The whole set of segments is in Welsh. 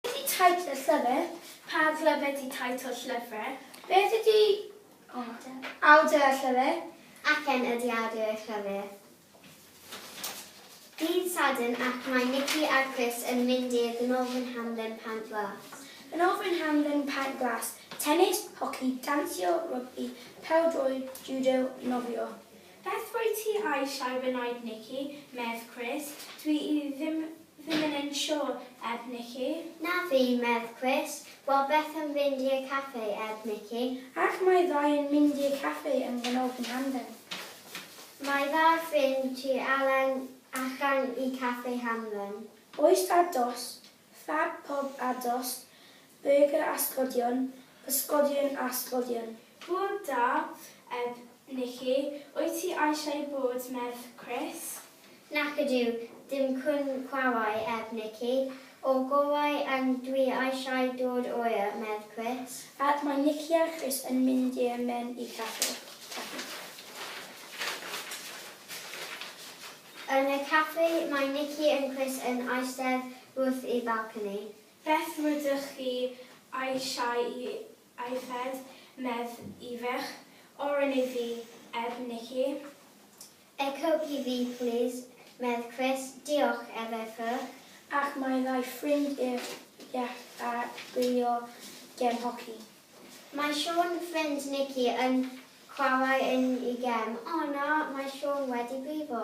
Ydi teitl y llyfr? Pa lyfr ydi teitl y llyfr? Beth ydi awdur y llyfr? Aken ydi awdur y llyfr. Dydd Sadwrn ac mae Nikki a Chris yn mynd i'r Gynolfan Hamdden Pant Glas. Gynolfan Hamdden Pant Glas, tennis, hoci, dansio, rygbi, pêl-droed, judo, nofio. Beth wyt ti eisiau wneud Nikki? medd Chris. Dwi i ddim ddim yn yn siwr, edd Nikki. Na fi, medd Chris. Wel beth am fynd i y caffi, edd Nikki. Ac mae ddau yn mynd i'r caffi yn Ghanolfan Hamdden. Mae dda ffrind ti Alen achan i caffi Hamdden. Oes dad dost Fab pob ados, burger a sglodion, pysgodion a sglodion. Hwyl da, Eb. Nici, wyt ti eisiau bod merch Chris? Nac ydyw, dim cŵn cwawau, Eb. Nici, o gwawau yn dwi eisiau dod oer, merch Chris. Ac mae Nici a Chris yn mynd i mewn i caffi. Yn y caffi, mae Nikki yn Chris yn eistedd wrth y balcony. Beth rydych chi eisiau i yfed, medd Ifech? Oren i fi, ef Nikki. A coke i fi, plis, medd Chris. Diolch, ef Ifech. Ac mae rhai ffrind Ifech a Rio ger hoci. Mae Siôn ffrind Nici yn chwarae yn i gem. O na, mae Siôn wedi brifo.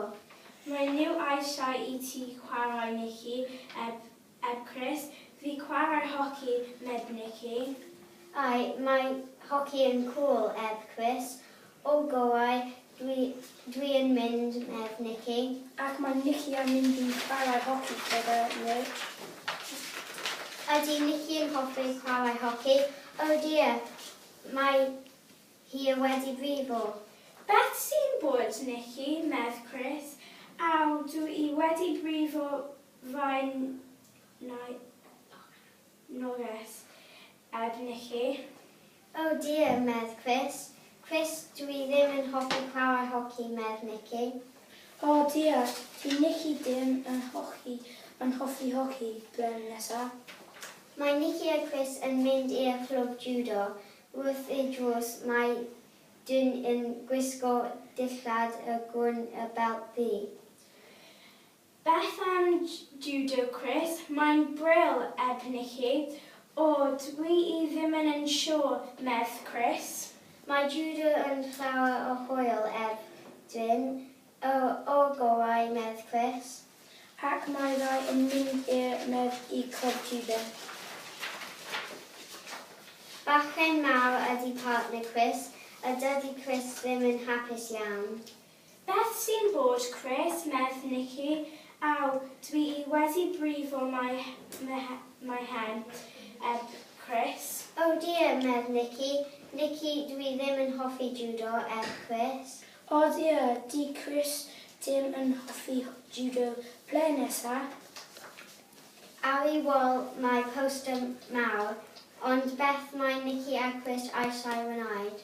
Mae nhw eisiau i ti chwarae Nici, eb eb Chris. Fi chwarae hoci meb Nici. Ai, mae hoci yn cŵl eb Chris. O goau, dwi, dwi yn mynd, medd Nici. Ac mae Nici am mynd i chwarae hoci gyda nhw. Ydy Nici yn hoffi chwarae hoci? O dear, mae hi y wedi brifo. Beth sy'n bod, Nici? medd Chris. Aw, dw i wedi brifo fy nai. Norris, Ed Nicky. Oh dear, medd Chris. Chris, dw i ddim yn hoffi chwarae hoci, medd Nicky. Oh dear, dyw Nicky dim yn hoci yn hoffi hoci, blem nesa. Mae Nicky a Chris yn mynd i'r clwb jwdo. Wrth y drws mae dyn yn gwisgo dillad y gwn a belt ddu. Beth am Judo Chris? Mae'n bril eb Nikki. O, dw i ddim yn yn siwr, medds Chris. Mae Judo yn llawer o hwyl eb Jin. O, o'r gorau, medds Chris. Ac mae rai yn mynd i'r Med i Clwb Judo. Bachgen mawr ydy partner Chris, a dydy Chris ddim yn hapus iawn. Beth sy'n bod Chris medd Nikki aw dwi i wedi brifo mae mae hen eb Chris. Oh dear medd Nikki, Nikki dwi ddim yn hoffi judo eb Chris. Oh dear di Chris dim yn hoffi judo ble nesa? Aw i wall mae poster mawr ond beth mae Nikki a Chris a'i sa'i wnaed?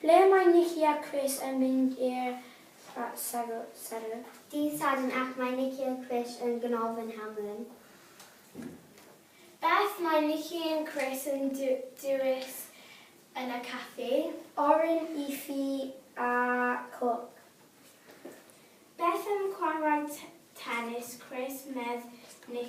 Ble mae Nikki a Chris yn mynd i'r Safle? Dydd Sadwrn ac mae Nikki a Chris yn Ganolfan Hamlin. Beth mae Nikki and Chris yn dewis yn y caffi? Oren i fi a cwc. Beth am chwarae tenis Chris, medd Nikki.